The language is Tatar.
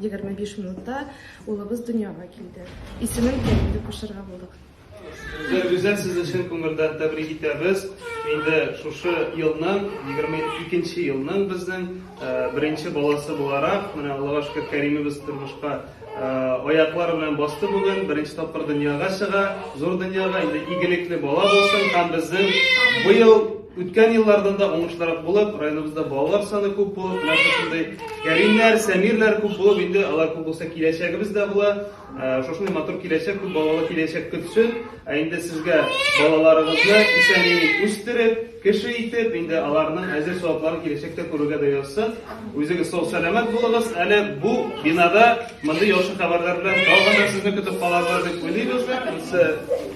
25 минутта улыбыз дөньяга килде. Исемен Кәрим дип кушарга булдык. Зур Гүзәл сез өчен күңелдән тәбрик итәбез. Инде шушы елның, 22 нче елның безнең беренче баласы буларак, менә Аллага шөкер, Кәримебез тормышка аяклар белән басты бүген, беренче тапкыр дөньяга чыга, зур дөньяга, инде игелекле бала булсын һәм безнең быел Үткән еллардан да уңышлырак булып, районыбызда балалар саны күп булып, менә шушындый Кәримнәр, Сәмирләр күп булып, инде алар күп булса киләчәгебез дә була. Ә, Шушындый матур киләчәк, күп балалы киләчәк көтсен. Ә инде сезгә балаларыгызны исән-имин үстереп, кеше итеп, инде аларның әзер савапларын киләчәктә күрергә дә язсын. Үзегез сау сәламәт булыгыз. Әле бу бинада мондый яхшы хәбәрләр белән тагын да сезне көтеп калабыз дип уйлыйбыз. Ансы